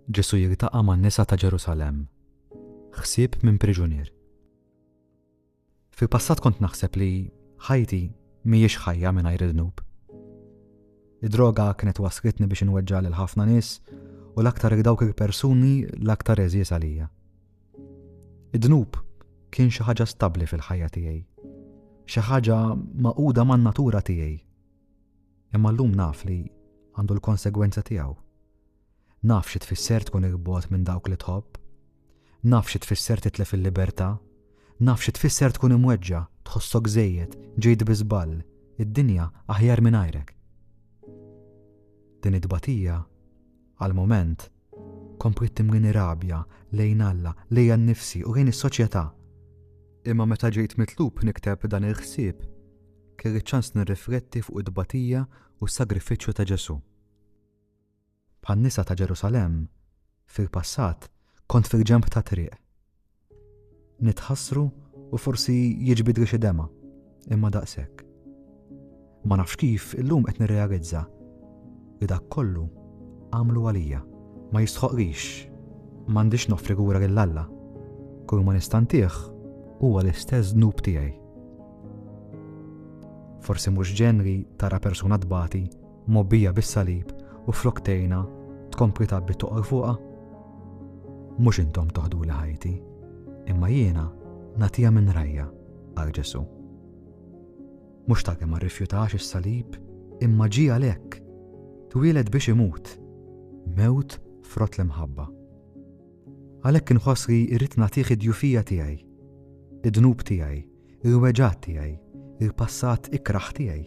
Ġesù jiltaqa' man-nisa ta' Ġerusalemm. Ħsieb minn priġunier. Fil-passat kont naħseb li ħajti mhijiex ħajja mingħajr id-dnub. Id-droga kienet waslitni biex inweġġa' lil ħafna nies u l-aktar il dawk il-persuni l-aktar eżies għalija. Id-dnub kien xi ħaġa stabbli fil-ħajja tiegħi. Xi ħaġa maquda man-natura tiegħi. Imma llum naf li għandu l-konsegwenza tiegħu. Naf xi tfisser tkun il-bogħod minn dawk li tħobb. Naf xi tfisser titlef il-libertà. Naf xi tfisser tkun imweġġa, tħossok żejjed, ġejt bi żball, id-dinja aħjar mingħajrek. Din it-tbatija Għall-mument, kompliet timlieni rabja lejn Alla, lejja nnifsi u lejn is-soċjetà. Imma meta ġejt mitlub nikteb dan il-ħsieb, kelli ċ-ċans nirrifletti fuq it-tbatija u s-sagrifiċċju ta' Ġesù. Bħan-nisa ta' Ġerusalemm, fil-passat kont fil-ġenb tat-triq. Nitħassru u forsi jiġbidli xi dema', imma daqshekk. Ma nafx kif illum qed nirrealizza li dak kollu għamlu għalija. Ma jistħoqlix, m'għandix noffri lura lil Alla. Kull ma nistantih huwa l-istess dnub tiegħi. Forsi mhux ġenri tara persuna tbati mgħobbija bis-salib u flok tgħinha tkompli tgħabbi toqgħor fuqha? Mhux intom toħduli ħajti, imma jiena nagħtiha minn rajja, qal Ġesu. Mhux ta' kemm ma rrifjutax is-salib, imma ġie għalhekk, twieled biex imut, mewt frott l-imħabba. Għalhekk inħoss li irrid nagħtih id-djufija tiegħi, id-dnub tiegħi, il-weġgħat tiegħi, il-passat ikrah tiegħi,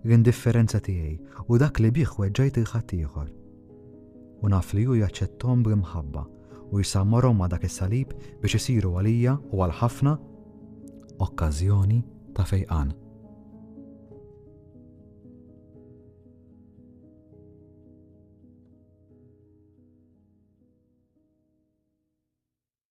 l-indifferenza tiegħi u dak li bih weġġajt il ħaddieħor. U naf li hu jaċċettom bl-imħabba u jsammarhom ma' dak is-salib biex isiru għalija u għal ħafna okkażjoni ta' fejqan.